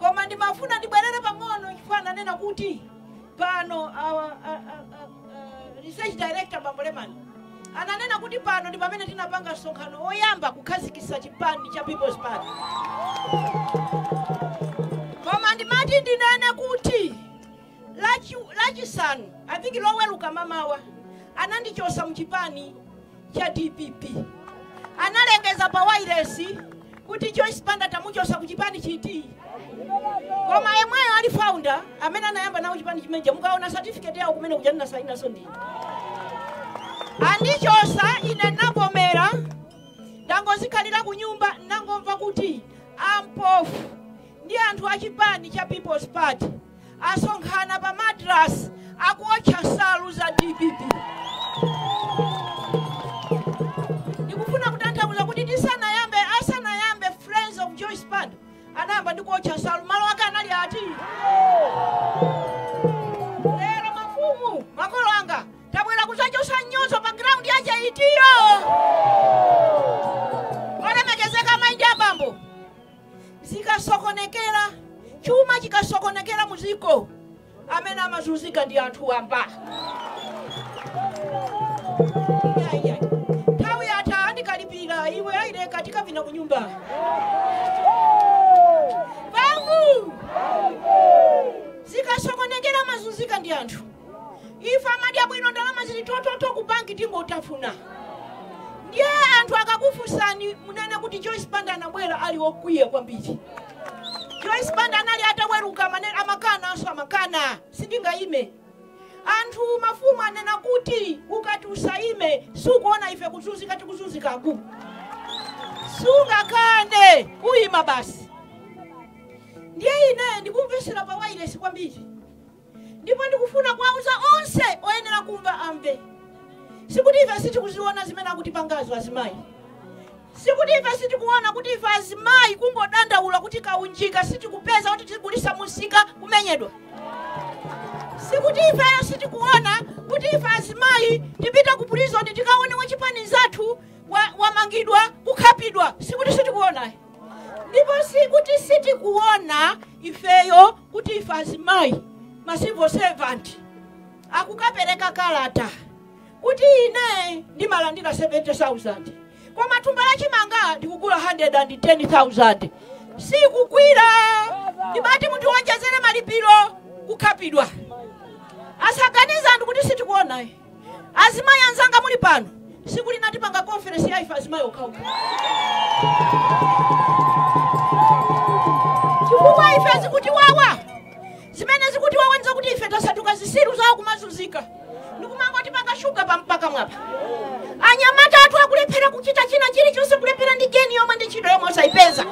koma ndimafuna ndibwerere pang'ono chifukwa ananena kuti pano awa- a- a- a- a- research director bambo lemani ananena kuti pano ndi pamene tinapanga msonkhano woyamba kukhazikitsa chipani cha people's party koma ndimati ndinene kuti Lachi, lachisanu I think loweluka mamawa anandichosa mchipani cha dpp analengeza pa wailesi kuti Joyce Banda tamuchosa ku chipani chiti koma yemweyo ali founder amene anayamba nawo chipani chimeneja mukaona certificate yawo ku Nec kuja ndinasainaso ndine andichosa ine ndinavomera ndangozikhalira ku nyumba ndangomva kuti ampofu ndi anthu a chipani cha People's Party asonkhana pa Madras akuotcha nsalu za dpp. Ndikufuna kutanthauza kuti tisanayambe asanayambe Friends of Joyce Banda anayamba ndi kuotcha nsalu malo ake anali ati lero mafumu makolo anga tabwera kuzachosa mnyozo pa ground ya Chaitiyo olemekezeka maindi abambo zikasokonekera chuma chikasokonekera mu dziko amene amazunzika ndi anthu wamba Ayaya. nthawi yatha andikalipira iwe aleke tikapita ku nyumba bangu zikasokonekera amazunzika ndi anthu ife amadya bwino ndalama zili thothoto ku banki tingotafuna ndiye anthu akakufunsani munene kuti joyce banda anabwera ali okwiya kwambiri joyce banda anali ataweruka amane- amakananso amakana sindingayime anthu mafumu anena kuti ukati usayime sukuona ife kuzunzika tikuzunzikaku sungakane uyima basi ndiye ine ndikumvesera pa wailesi kwambiri Ndipo ndikufuna kuwauza onse oyenera kumva amve. Sikuti ife sitikuziona zimene akutipangazo azimayi. Sikuti ife sitikuona kuti ife azimayi kungodandaula kuti kaunjika sitikupeza kuti tigulise munsika kumenyedwa. Sikuti ife sitikuona kuti ife azimayi tipita ku prison tikaone wachipani nzathu wa- wamangidwa kukhapidwa. Sikuti sitikuona. ndipo sikuti sitikuona ifeyo kuti ife azimayi ma civil servant akukapereka kalata kuti ine ndimalandira 70000 koma thumba la chimanga ndikugula 110000 sikukwira ndiye bati mutiwonjezere malipiro kukhapidwa asaganize anthu kuti sitikuona azimayi anzanga muli pano siku lina tipanga conference ya ife azimayi okhaokha chifukwa ife zikutiwawa zimene zikutiwawa ndi zakuti ife tasanduka zisiru zawo kumazunzika ndikumangotipaka shuga pa pakamwapa anyamata athu akulephera kuchita china chilichonse kulephera ndi geni yomwe ndi ntchito yomwe osayipeza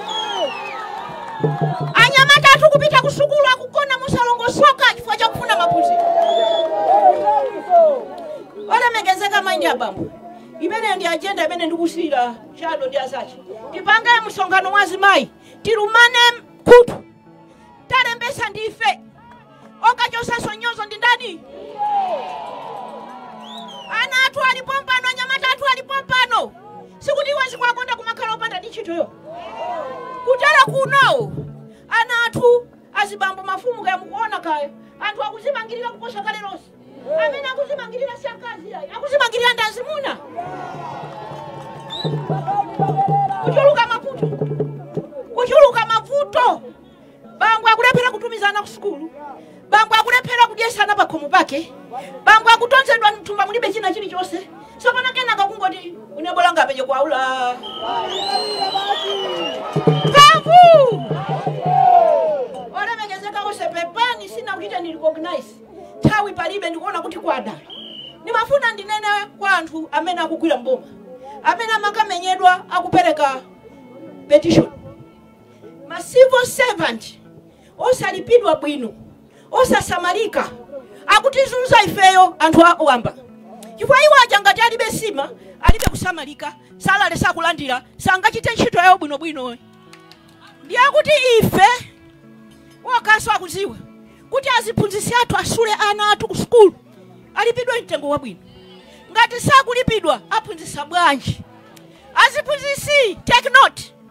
anyamata athu kupita ku sukulu akugona mosalongosoka chifukwa chakufuna maphunziro olemekezeka mayi ndi abambo imeneyo ndi ajenda imene ndikusiyira chado ndi azache tipange msonkhano wa azimayi tilumane khutu talembesa ndife okachosaso nyozo ndi ndani ana athu ali pompano anyamata athu ali pompano sikuti iwo zikwakonda kumakhala opanda ndi ntchitoyo kudera kuno ana athu azibambo mafumu kaya mukuona kaya anthu akuzimangirira kuposa kale lonse amene akuzimangirira si akazi ayi akuzimangirira ndi azimuna kuchuluka mavuto kuchuluka mavuto bambo akulephera kutumiza ana kusukulu bambo akulephera kudyesa ana pakhomo pake bambo akutonzedwa mthumba mulibe china chilichonse sopano kenaka kungoti une bola ngapenye kwaula mphamvu olemekezeka onse pepani sinakuchiteni recognize nthawi palibe ndikuona kuti kwada ndimafuna ndinene kwa anthu amene akugwira mboma amene amakamenyedwa akupereka petition ma civil servant osalipidwa bwino osasamalika akutizunza ifeyo anthu awamba chifukwa iwo aja ngati alibe sima alibe kusamalika salary sakulandira sangachite ntchito yawo bwinobwino ndiye kuti ife wokaso akuziwa kuti aziphunzitsi athu asule ana athu ku sukulu alipidwe mtengo wabwino ngati sakulipidwa aphunzitsa bwanji aziphunzitsi take note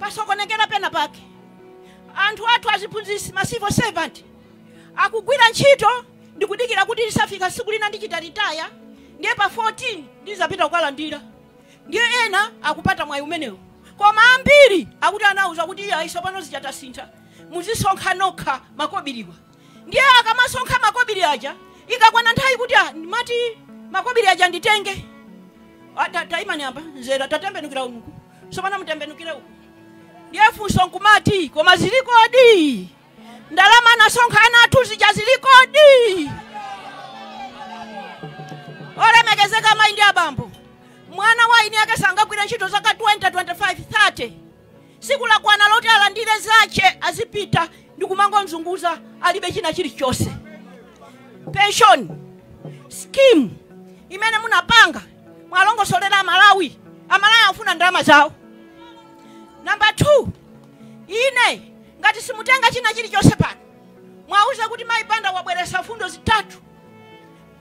pasokonekera pena pake anthu athu aziphunzitsi ma civil servant akugwira ntchito ndikudikira kuti lizafika siku lina ndichita retire ndiye pa 14 ndizapita kukalandira ndiye ena akupata mwayi umenewu koma ambiri akuti anauza kuti iyayi sopano zichatasintha muzisonkha nokha makobiriwa ndiye akamasonkha makobiri aja ikakwana nthawi kuti ah, ndimati makobiri aja nditenge Ah, ta- taimani apa nzera tatembenukira uku sopano mutembenukire uku ndiye funso nkumati koma zilikodi ndalama anasonkha ana athu zija zilikodi olemekezeka mayi ndi abambo mwana wa eni ake sangagwire ntchito zaka 20 25 30 Tsiku lakwana loti alandire zache azipita ndikumangomzunguza alibe china chilichonse. Pension scheme imene munapanga mwalongosolera Amalawi, Amalawi akufuna ndalama zawo. Number 2 ine ngati simutenga china chilichonse pano muwauze kuti mayi Banda wabweresa mfundo zitatu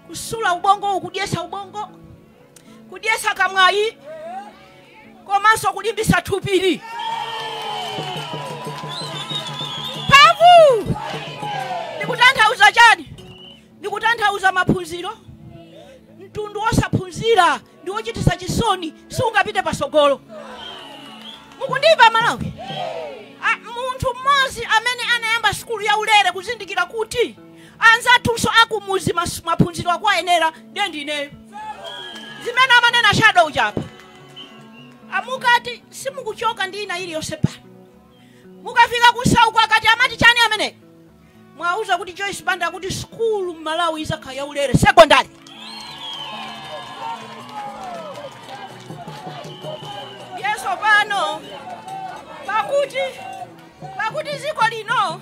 kusula ubongowu kudyesa ubongo kudyetsa kamwali komanso kulimbisa thupili mphamvu ndikutanthauza chani ndikutanthauza maphunziro mtundu wosaphunzira ndi wochitisa chisoni siungapite pasogolo mukundimva Amalawi A- munthu mmodzi amene anayamba sukulu ya ulere kuzindikira kuti anzathunso akumuzi mas- maphunziro akuwayenera ndiye ndineyo zimene amanena a shadow-cha apa amukati simukuchoka ndi ina iliyonse pano mukafika kumseuko akati amati chani amene muwauze kuti joyce banda akuti skulu mmalawi izakhala yaulere sekondari yenso pano pakuti pakuti ziko lino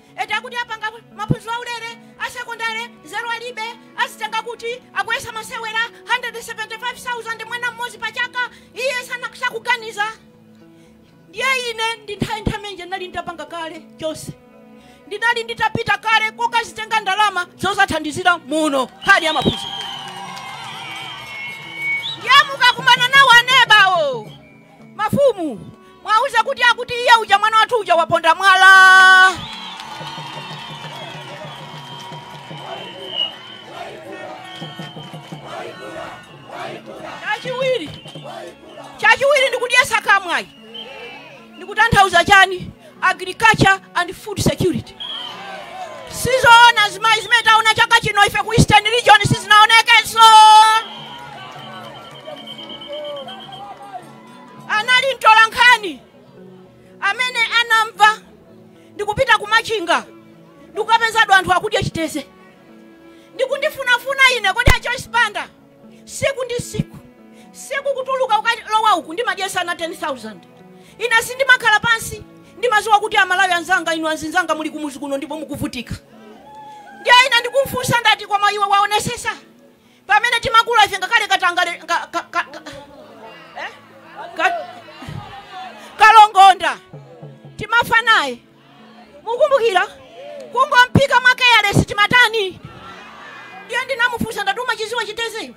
eti akuti apanga maphunziro aulere a sekondale nzeru alibe azitenga kuti akuyesa masewera 175,000 mwana mmodzi pa chaka iye sana- sakuganiza ndiye ine ndi Nthaintamenje ndinali nditapanga kale chonse ndinali nditapita kale kokazitenga ndalama zozathandizira muno nkhani ya maphunziro ndiye mukakumana nawo anebawo Mafumu, muwauze kuti akuti iye uja mwana wathu uja waponda mwala. Chachiwiri, chachiwiri ndikudyesa kamwali, ndikutanthauza chani? Agriculture and food security. Sizoona azimayi zimene taona chaka chino ife ku Eastern Region sizinaonekenso. Anali mtola nkhani amene anamva ndikupita kumachinga ndikukapezadi anthu akudya chiteze ndikundifunafuna ine kodi a Joyce Banda siku ndi siku kutuluka ukalowa uku ndimadyesa ana 10000 ine sindimakhala pansi ndimaziwa kuti amalawi anzanga inu anzinzanga muli kumuzi kuno ndipo mukuvutika ndiye ine ndikumfunsa ndati koma iwe waonesesa pamene timakula ife ngakhale katangale ka- ka- ka- ka- eh? Ka- kalongonda timafa naye mukumbukira kungophika mwa keyalesi timatani ndiye ndinamufunsa ndati umachidziwa chiteze iwe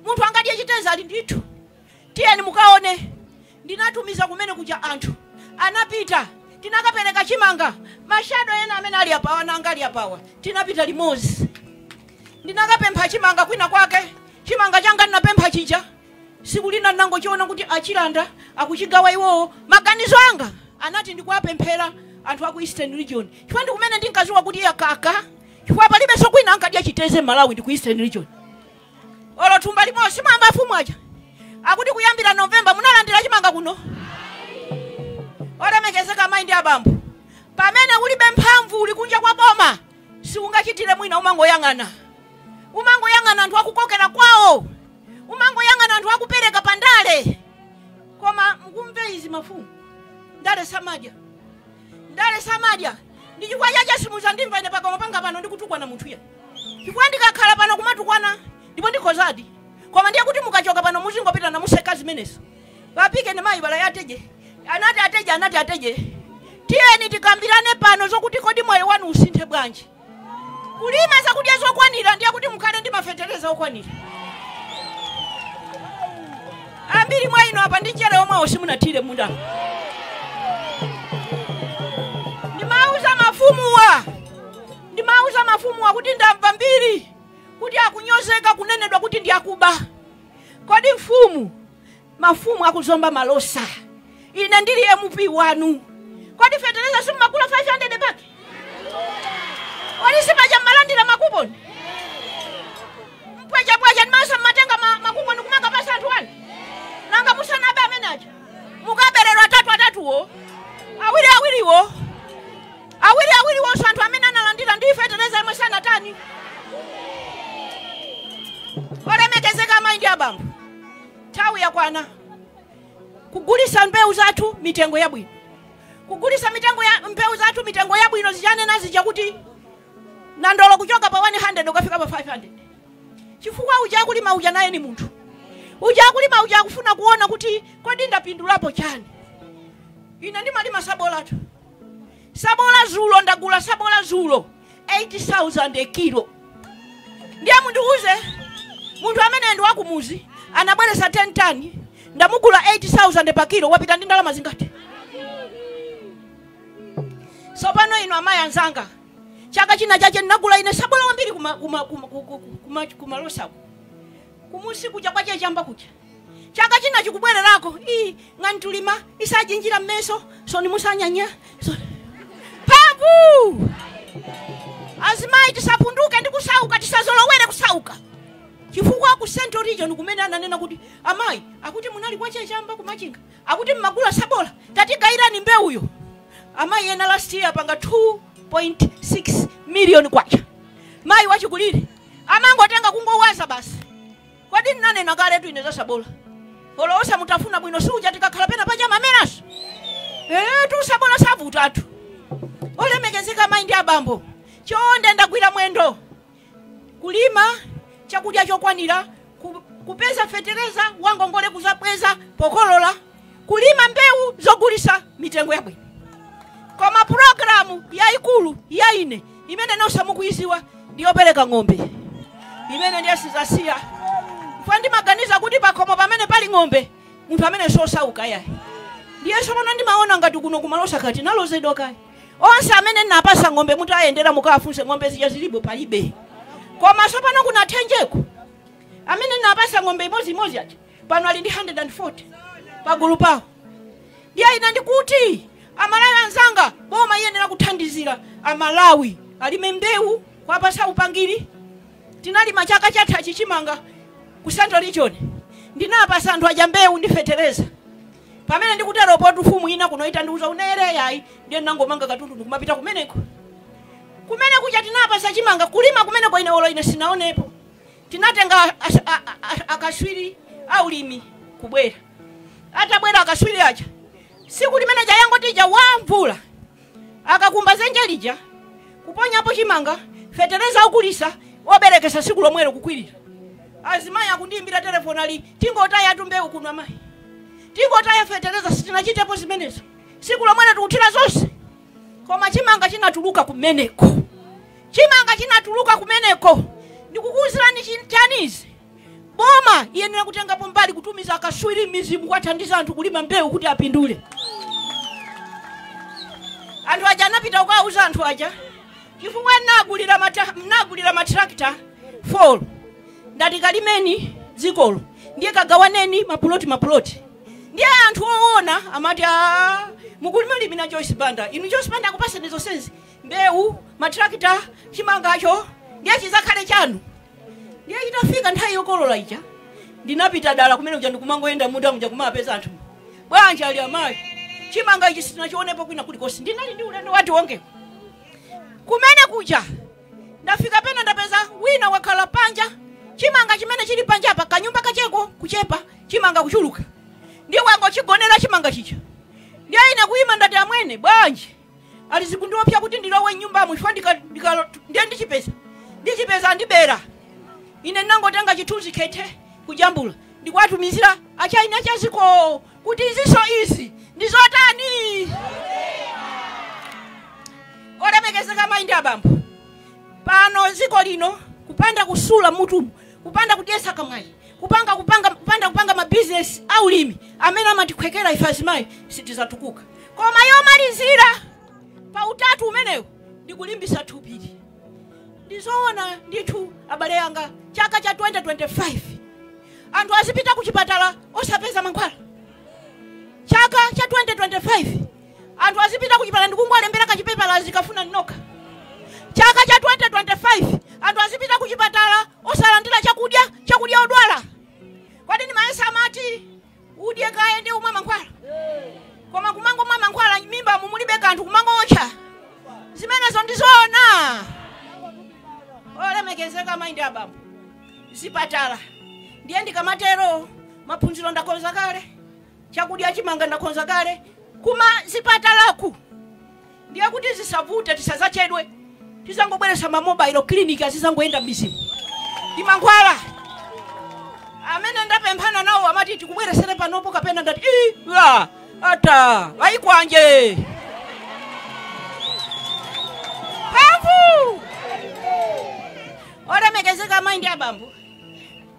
munthu angadye chiteze ali ndithu tiyeni mukaone ndinatumiza kumene kuja anthu anapita tinakapereka chimanga ma shadow ena amene ali apawa nanga ali apawa tinapita limodzi ndinakapempha chimanga kwina kwake chimanga changa ndinapempha chija siku lina ndinangochiona kuti achilanda akuchigawa iwowo maganizo anga anati ndikuwapemphera anthu aku eastern region chifukwa ndikumene ndinkaziwa kuti yakaka chifukwa palibenso kwina ankadya chiteze m'malawi ndi ku eastern region olo thumba limodzi mwamva afumu aja akuti kuyambira November munalandira chimanga kuno olemekezeka amayi ndi abambo pamene ulibe mphamvu uli kunja kwa boma siungachitire mwina umangoyang'ana umangoyang'ana anthu akukokera kwawo umangoyang'ana anthu akupereka pa ndale koma mumve izi mafumu ndale samadya ndale samadya ndi chifukwa chache simuzandimva ine pakamwa panga pano ndikutukwana munthu iye chifukwa ndikakhala pano kumatukwana ndipo ndikozadi koma ndiye kuti mukachoka pano muzingopita namaseka zimenezo vapike ni mayi vala yateje anati ateje anati ateje tiyeni tikambirane pano zokuti kodi moyo wanu usinthe bwanji kulima zakudya zokwanira ndiye kuti mukhale ndi mafetereza okwanira ambiri mwa inu apa ndi njere omwewo simunathire mmunda ndimauza mafumuwa ndimauza mafumuwa kuti ndamva mbiri kuti akunyozeka kunenedwa kuti ndi akuba kodi mfumu mafumu akuzomba malosa ine ndili mp wanu kodi fetereza simumagula 500 bag kodi sipaja mmalandira makuponi mpwechepweche ndimaso mmatenga ma- makuponi kumakapasa anthu anu nanga musanabe amene aja mukabereranji atatu atatuwo awiri awiriwo awiri awiriwonso anthu amene analandira ndi fetereza imwe sanatani olemekezeka amayi ndi abambo Nthawi yakwana kugulisa mbewu zathu mitengo yabwino, kugulisa mitengo ya mbewu zathu mitengo yabwino zija nanena zija kuti nandolo kuchoka pa 100 ukafika pa 500 chifukwa uja akulima uja naye ni munthu uja akulima uja akufuna kuona kuti kodi ndapindulapo chani ine ndimalima sabolatu sabola zulo ndagula sabola zulo 8000 a kilo ndiye mundiuze munthu amene ndi wakumuzi anabweresa 10 tons ndamugula 8000 pa kilo wapita ndi ndalama zingati sopano inu amayi anzanga chaka china chache ndinagula ine sabola wambiri kumalosako kumusi kuja kwa che chamba kuja chaka china chikubwererako ii nganitulima isajinjira mmeso soni musanyanya so- phavu azimayi tisapunduke ndi kusauka tisazolowere kusauka chifukwa ku central region kumene ananena kuti amayi akuti munali kwa che chamba ku machinga akuti mmagula sabola tatigayirani mbewuyo amayi ena last year apanga 2.6 million kwacha mayi wachikulire amangotenga kungowaza basi Kodi ndinanena kaletu ine za sabola? Olo osamutafuna bwino si uja tikakhala pena paja amameranso. Etu sabola savutatu. Olemekezeka mayi ndi abambo. Chonde ndagwira mwendo. Kulima chakudya chokwanira ku- kupeza fetereza wangongole kuzabweza pokolola kulima mbewu zogulisa mitengo yabwino koma pulogalamu yayikulu ya ine imene nonse mukuyiziwa ndiyopereka ng'ombe imene ndiye sizasiya chifukwa ndimaganiza kuti pakhomo pamene pali ng'ombe munthu amene sosauka yayi ndiye sopano ndimaona ngati kuno ku malosa kati nalozedwa kaya onse amene napasa ng'ombe mutawayendera mukawafunse ng'ombe zija zilipo palibe koma sopano ku nathenjeko amene napasa ng'ombe imodzimodzi aja pano ali ndi 140 pagulu pawo ndiye ine ndikuti amalawi anzanga boma iyenera kuthandizira amalawi alime mbewu kwapasa upangiri tinalima chaka chatha chichimanga ku central region ndinapasa anthu aja mbewu ndi fetereza pamene ndikutero poti mfumu ina kuno itandiuza unere yayi ndiye ndinangomanga katundu ndikumapita kumeneko kumene kuja tinapasa chimanga kulima kumeneko ine olo ine sinaonepo tinatenga as- a- a- a- akaswiri aulimi kubwera atabwera akaswiri aja siku limene lija yangoti ja wa mvula akakumba zenje lija kuponyapo chimanga fetereza okulisa oberekesa siku lomwelo kukwirira azimayi akundiimbira telefoni ali tingotayatu mbewu kuno amayi tingotaya fetereza sitinachitepo zimenezo siku lomwelo tikuthira zonse koma chimanga chinatuluka kumeneko chimanga chinatuluka kumeneko ndikukuwuzirani chi- chanizi boma iyenera kutengapo mbali kutumiza akaswiri mmizimu kwathandiza anthu kulima mbewu kuti apindule anthu aja anapita kukawuza anthu aja chifukwa mnagulira mata- mnagulira matrakita 4 ndati kalimeni dzikolo ndiye kagawaneni mapuloti mapuloti ndiye anthu owona amati "Ah, mukulimalimira joyce banda inu joyce banda akupasani zonsezi mbewu matrakita chimangacho ndiye chizakhale chanu ndiye itafika nthawi yokolola ija ndinapita dala kumene kuja ndikumangoyenda mmunda muja kumapeza anthu bwanji ali amayi chimanga ichi sitinachionepo kwina kulikonse ndinali ndi ulendo wa tiwonge kumene kuja ndafika pena ndapeza wina wakhala panja chimanga chimene chili panja apa kanyumba kacheko kuchepa chimanga kuchuluka ndiye wangochigonera chimanga chija ndiye ine kuyima ndati amwene bwanji ali zikundiopya kuti ndilowe mnyumbamo chifukwa ndika- ndika- ndiye ndichipeza ndichipeza ndibera ine ndinangotenga chithunzi khethe kujambula ndikuwatumizira achaina a chaziko kuti izinso izi ndi zotani olemekezeka mayi ndi abambo pano dziko lino kupanda kusula mutumu kupanda kudyetsa kamwayi kupanda kupanga mabizinesi aulimi amene amatikhwekera ife azimayi sitidzatukuka koma yomalizira pa utatu umenewu ndi kulimbisa thupili ndizoona ndithu abale anga chaka cha 2025 anthu azipita kuchipatala osapeza mankhwala chaka cha 2025 anthu azipita kuchipatala ndikungolembera kachipepala zikafunani nokha chaka cha 2025 anthu azipita kuchipatala osalandira chakudya odwala kodi ndimayesa amati udye kaye ndiye umwe mankhwala koma kumangomwa mankhwala mmimbamu mulibe kanthu kumangootcha zimenezo ndizoona olemekezeka mayi ndi abambo zipatala ndiye ndikamatero maphunziro ndakonza kale chakudya chimanga ndakonza kale kumazipatalaku ndiye kuti zisavute tisazachedwe tizangobweresa mamobailo kiliniki azizangoyenda mmizimu ndi mankhwala amene ndapemphana nawo amati tikubweresere panopo kapena ndati "Ii, la ata vayikwanje mphamvu Olemekezeka amai ndi abambo,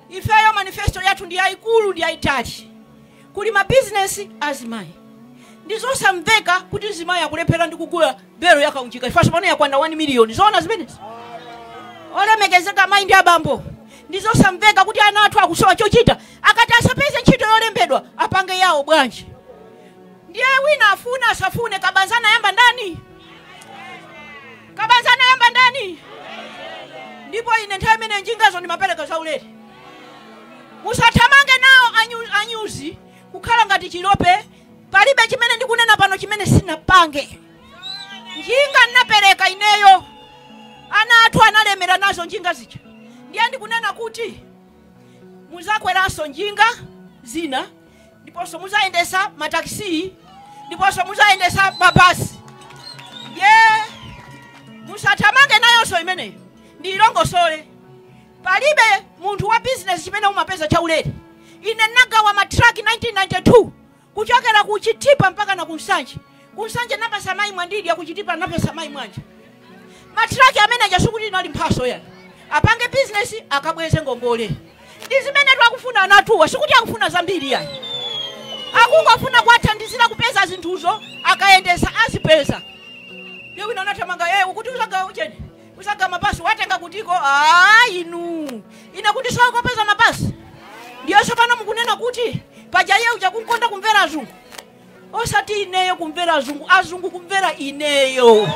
ifeyo manifesto yathu ndi yaikulu ndi yaitali. Kuli ma business a azimai. Ndi zosamveka kuti mzimai akulephera ndi kugula belo ya kaunjika chifukwa tsopano yakwana 1 miliyoni. Zoona zimenezi? Olemekezeka amai ndi abambo, ndi zosamveka kuti ana athu akusowa chochita akati asapeze ntchito yolembedwa apange yao bwanji? Ndiye wina afune asafune kabaza anayamba ndani? kabaza anayamba ndani ndipo ine nthawi imene njingazo ndimapereka zaulere musathamange nawo anyuzi kukhala ngati chilope palibe chimene ndikunena pano chimene sinapange njinga ndinapereka ineyo ana athu analemera nazo njinga zija ndiye ndikunena kuti muzakweranso njinga zina ndiponso muzayendesa matakisi ndiponso muzayendesa mabasi iyi musathamange nayonso imeneyo ndiyilongosole palibe munthu wa bizinesi chimene umapeza chaulere ine nnagawa matraki 1992 kuchokera ku chitipa mpaka na ku nsanje Ku Nsanje ndinapatsa mayi Mwandidya, ku Chitipa ndinapatsa mayi Mwanja. Ma truck amene aja sikuti inali mphatso ayi. Apange business akabweze ngongole. Ndi zimene akufuna anthuwa, sikuti akufuna zambiri ayi. Akungofuna kuwathandizira kupeza zinthuzo akayendesa azipeza. Ndiye wina anathamanga iye akuti uzagawa uchani. Uzagawa mabasi watenga kutiko. Ah inu. Ine nkuti sasowa kopeza mabasi. Ndiye tsopano mukunena kuti paja iye uja amakonda kumvera azungu. osati ineyo kumvera azungu azungu kumvera ineyo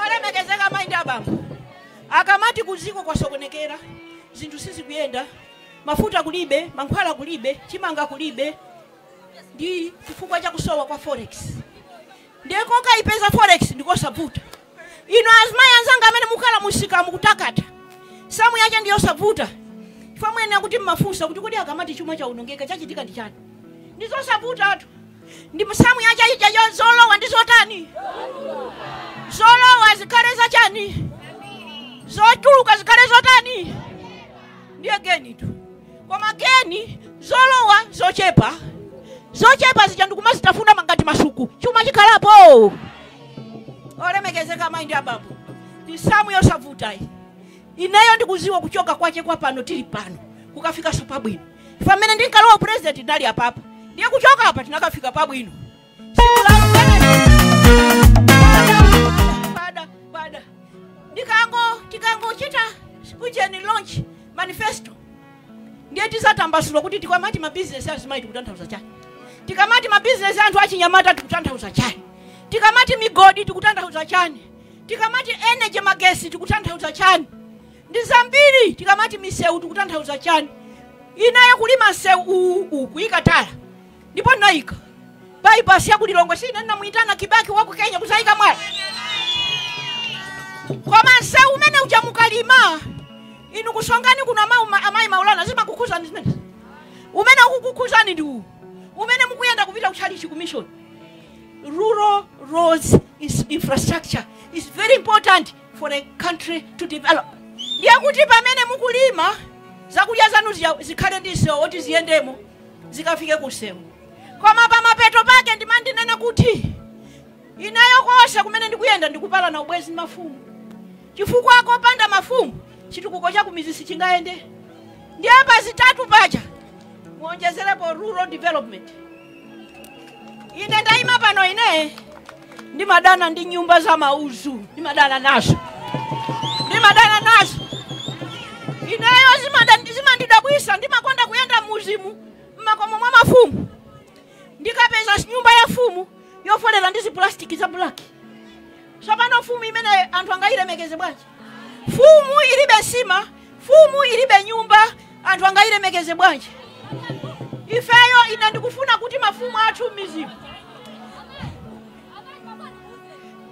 olemekezeka mayi ndi abambo akamati kudziko kwasokonekera zinthu sizikuyenda mafuta kulibe mankhwala kulibe chimanga kulibe ndi chifukwa cha kusowa kwa forex ndiye kokayipeza forex ndikosavuta inu azimayi anzanga amene mukhala mumsika mukutakata samu yache ndi yosavuta chifukwa mwina kuti mumafunsa kuti kodi akamati chuma chaonongeka chachitika ndi chani ndi zosavutatu ndi samu yache ija yo- zolowa ndi zotani zolowa zikhale zachani zotuluka zikhale zotani ndiye genitu kumageni zolowa zochepa zochepa zija ndikumazitafuna mangati masuku chuma chikhalapo olemekezeka mayi ndi abambo ndi samu yosavutayi ineyo ndikuziwa kuchoka kwache kwa pano tili pano kukafikaso pabwino pamene ndinkalowa upurezidenti tinali apapa ndiye kuchoka apa tinakafika pabwino pada pada ndikango tikangochita kujeni launch manifesto ndiye tizatambasula kuti tikamati mabizinesi azimayi tikutanthauza chani tikamati mabizinesi anthu achinyamata tikutanthauza chani tikamati migodi tikutanthauza chani tikamati energy magesi tikutanthauza chani ndi zambiri tikamati misewu tikutanthauza chani ineyo kulima msewu uwu uwu kuyika tala ndipo ndinayika bypass ya ku lilongwe si ine ndinamuyitana kibaki wa ku kenya kuzayika mwala koma msewu umene uja mukalima inu kusongani kuno amayi ma- amayi maulana zimakukhuzani zimenezi umene ukukukhuzani ndi uwu umene mukuyenda kupita kuchalichi commission rural roads infrastructure is very important for a country to develop ndiye kuti pamene mukulima zakudya zanu ziya- zikhale ndi msewu oti ziyendemo zikafike kumsewu koma pamapeto pake ndimati ndinene kuti ineyo konse kumene ndikuyenda ndikupalana ubwenzi ndi mafumu chifukwa kopanda mafumu chitukuko cha kumizi sichingayende ndiye pa zitatu paja muonjezerepo rural development ine ndayima pano ine ndimadana ndi nyumba za mauzu ndimadana nazo ndimadana nazo ineyo zimada- zimandidabwisa ndimakonda kuyenda mmudzimu mmakomo mwa mafumu ndikapeza nyumba ya fumu yofolera ndi zipulastiki za bulaki tsopano fumu imene anthu angayilemekeze bwanji Fumu ilibe nsima, fumu ilibe nyumba, anthu angayilemekeze bwanji? Ifeyo ine ndikufuna kuti mafumu athu m'midzimu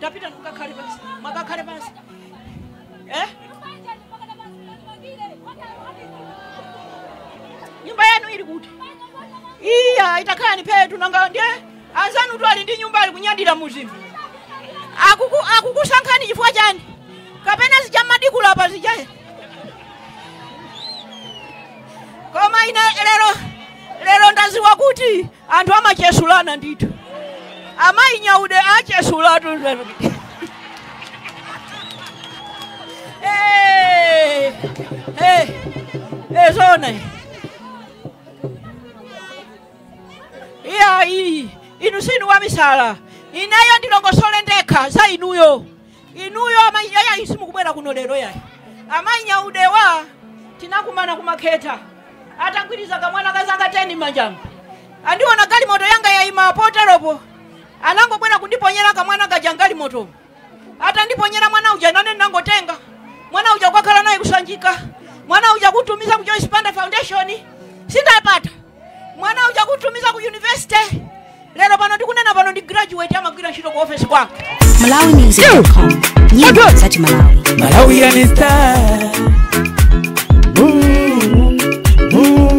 tapitani mukakhale pansi, mukakhale pansi eh? nyumba yanu ili kuti? Iyayi takhalani pheetu nanga ndiye Anzanutu ali ndi nyumba ali kunyadira m'mudzimu. Akuku akukusankhani chifukwa chani? Kapena zija m'madikula apa zija. Koma ine lero lero ndaziwa kuti anthu amachesulana ndithu. Amayi Nyaude achesulatu lero. Eh. Eh. Eh zona. iyayi inu sinu wamisala ineyo ndilongosole ndekha za inuyo inuyo amayi yayi simukubwera kuno lero yayi amayi nyaudewa tinakumana ku makhetha atagwiriza kamwana kazaka 10 mmanjamu andiona galimoto yanga yayima poteropo anangobwera kundiponyera kamwana kaja mgalimoto atandiponyera mwana uja nane ndinangotenga mwana uja kukakhala naye kusanjika mwana uja kutumiza ku Joyce Banda Foundation sindapata mwana uja kutumiza ku university lero pano ndikunena pano ndi graduate amagwira ntchito ku office kwanga Malawi Music dot com. Nyimbo za Malawi. Malawian star. Ooh, ooh.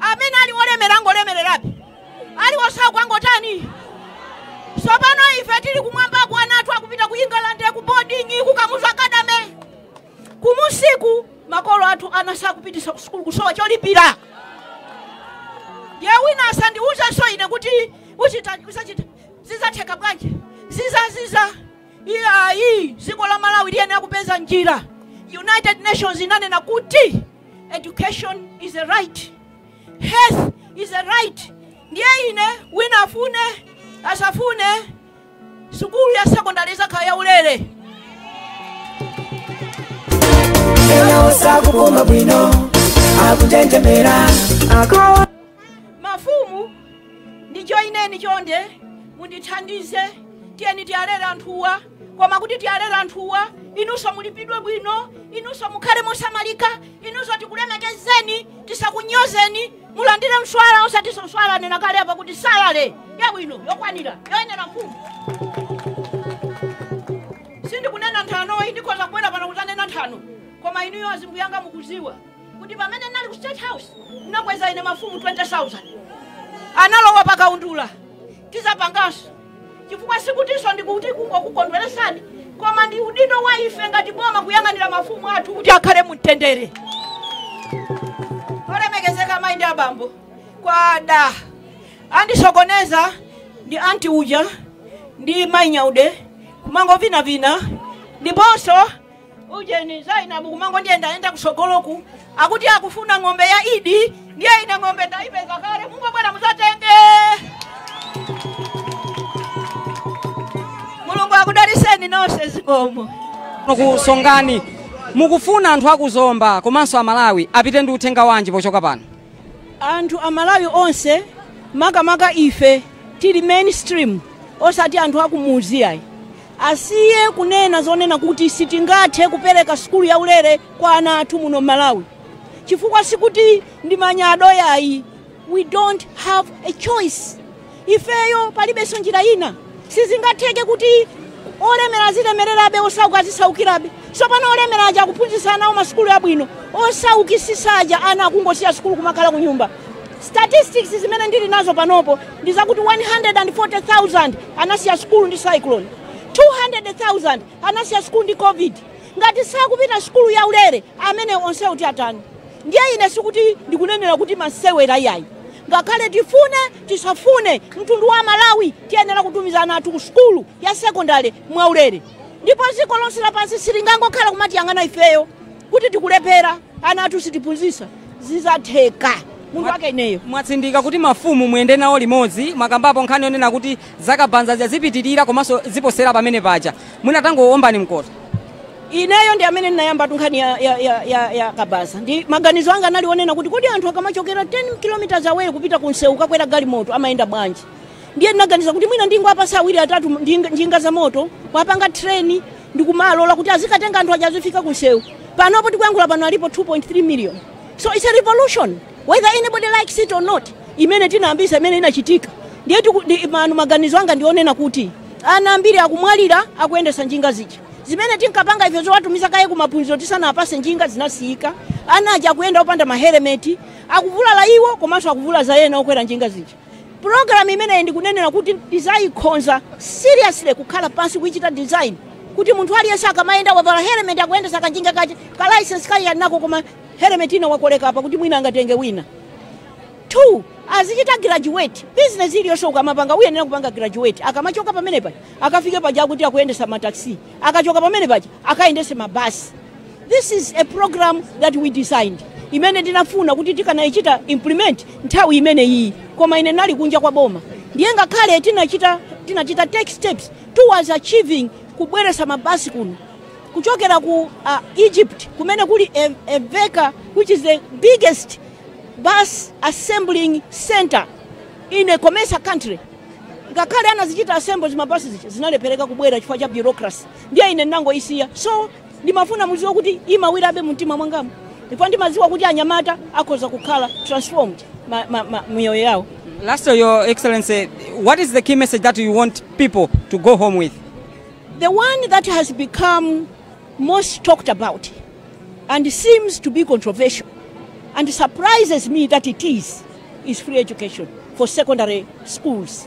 amene ali olemera ngolemererabe ali osauka ngotani sopano ife tili kumwambako ana athu akupita ku england ku boarding ku kamuzu academy kumudziku makolo athu ana sakupitisa ku sukulu kusowa cholipira ndiye wina asandiuzenso ine kuti uchita usachita zizatheka bwanji zizaziza Iyayi, dziko la Malawi liyenera kupeza njira. United Nations inanena kuti education is a right, health is a right. Ndiye ine wina afune asafune, sukulu ya sekondari izakhala ya ulere. Ena sakupuma bwino akutentemera ako mafumu ndijoineni chonde mundithandize tiyeni tiwalere anthuwa koma kuti tiwalere anthuwa inunso mulipidwe bwino inunso mukhale mosamalika inunso tikulemekezeni tisakunyozeni mulandire mswala osatinso mswala anena kale apa kuti salale yabwino yokwanira yoyenera mfumu sindikunena nthano ayi ndikhoza kubwera pano kuzanena nthano koma inuyo azimbuyanga mukuziwa kuti pamene ndinali ku state house ndinakweza ine mafumu 20000 analowa pa kaundula tizapanganso chifukwa sikutinso ndikuti kungokukondweresani koma ndi udindo wa ife ngati boma kuyang'anira mafumu athu kuti akhale mumtendere olemekezeka mayi ndi abambo kwada, andisokoneza ndi anti uja ndi mayi nyaude kumangovinavina ndiponso ujeni Zainabu kumangondiyendayenda kusogoloku akuti akufuna ng'ombe ya idi ndiye ine ng'ombe ndaipeza kale mungobwera muzatenge mulungu akudaliseni nonse zikomo kusongani mukufuna anthu akuzomba komanso amalawi apite ndi uthenga wanji pochoka pano anthu amalawi onse makamaka ife tili mainstream osati anthu akumuzi ayi Asiye kunena zonena kuti sitingathe kupereka sukulu yaulere kwa ana athu muno m'Malawi chifukwa sikuti ndi manyado yayi, we don't have a choice. Ifeyo palibenso njira ina. Sizingatheke kuti olemera azilemererabe osauka azisaukirabe. Tsopano olemera aja akuphunzitsa ana awo masukulu abwino, osaukisisa aja ana akungosiya sukulu kumakhala kunyumba. Statistics zimene ndili nazo panopo ndi zakuti 140,000 anasiya sukulu ndi cyclone, 200,000 anasiya sukulu ndi covid. Ngati sakupita sukulu ya ulere amene onsewo tiwatani? Ndiye ine sikuti ndikunenera kuti masewera iyayi, ngakhale tifune tisafune, mtundu wa Malawi tiyenera kutumiza ana athu ku sukulu ya sekondale mwaulere, ndipo dziko lonse lapansi silingangokhala kumatiyang'ana ifeyo. kuti tikulephera ana athu sitikuphunzisa zizatheka munthu wake ineyo mwatsindika kuti mafumu muyende nawo limodzi mwakambapo nkhani yonena kuti za kabaza zipitirira komanso ziposera pamene paja mwina tangowombani mkota ineyo ndi amene ndinayambatu nkhani ya, ya, ya, ya, ya kabaza ndi maganizo anga anali onena kuti kodi anthu akamachokera 10 km away kupita ku msewu kakwera galimoto amayenda bwanji ndiye ndinaganiza kuti mwina ndingowapasa awiri atatu njinga, njinga za moto kuwapanga treni ndikumalola kuti azikatenga anthu aja azifika kunsewu panopo tikuyankhula pano alipo 2.3 million so it's a revolution whether anybody likes it or not imene tinayambisa imene inachitika ndiye tiku- ndi- manu maganizo anga ndionena kuti ana ambiri akumwalira akuyendesa njinga zija zimene tinkapanga ife zowatumiza kaye kumaphunziro tisanawapase njinga zinasiyika ana aja akuyenda opanda mahelemeti akuvulala iwo komanso akuvulaza ena okwera njinga zija Program imeneyi ndikunenera kuti ndizaikhonza seriously kukhala pansi kuichita design kuti munthu aliyense akamayenda wavala helmet akuyendesa kanjinga kache ka license kake ali nako koma helmet ina wakoleka apa kuti mwina angatenge wina two azichita graduate business iliyonse ukamapanga uyenera kupanga graduate akamachoka pamene paja akafike paja pakuti akuyendesa mataxi akachoka pamene paja akayendese mabasi This is a program that we designed imene tinafuna kuti tikanayichita implement nthawi imene iyi koma ine nali kunja kwa boma ndiye ngakhale tinachita tinachita take steps towards achieving kubweresa mabasi kuno kuchokera ku uh, egypt kumene kuli E- eveka which is the biggest bus assembling center in a commercial country ngakhale anazichita assemble zimabasi zija zinalephereka kubwera chifukwa cha bureaucracy ndiye ine ndinangoisiya so ndimafuna mudziwe kuti imawirabe mumtima mwangamu ndipo ndimadziwa kuti anyamata akhoza kukhala transformed ma, ma, ma, miyoyo yawo Lastly, Your Excellency, what is the key message that you want people to go home with? the one that has become most talked about and seems to be controversial and surprises me that it is is free education for secondary schools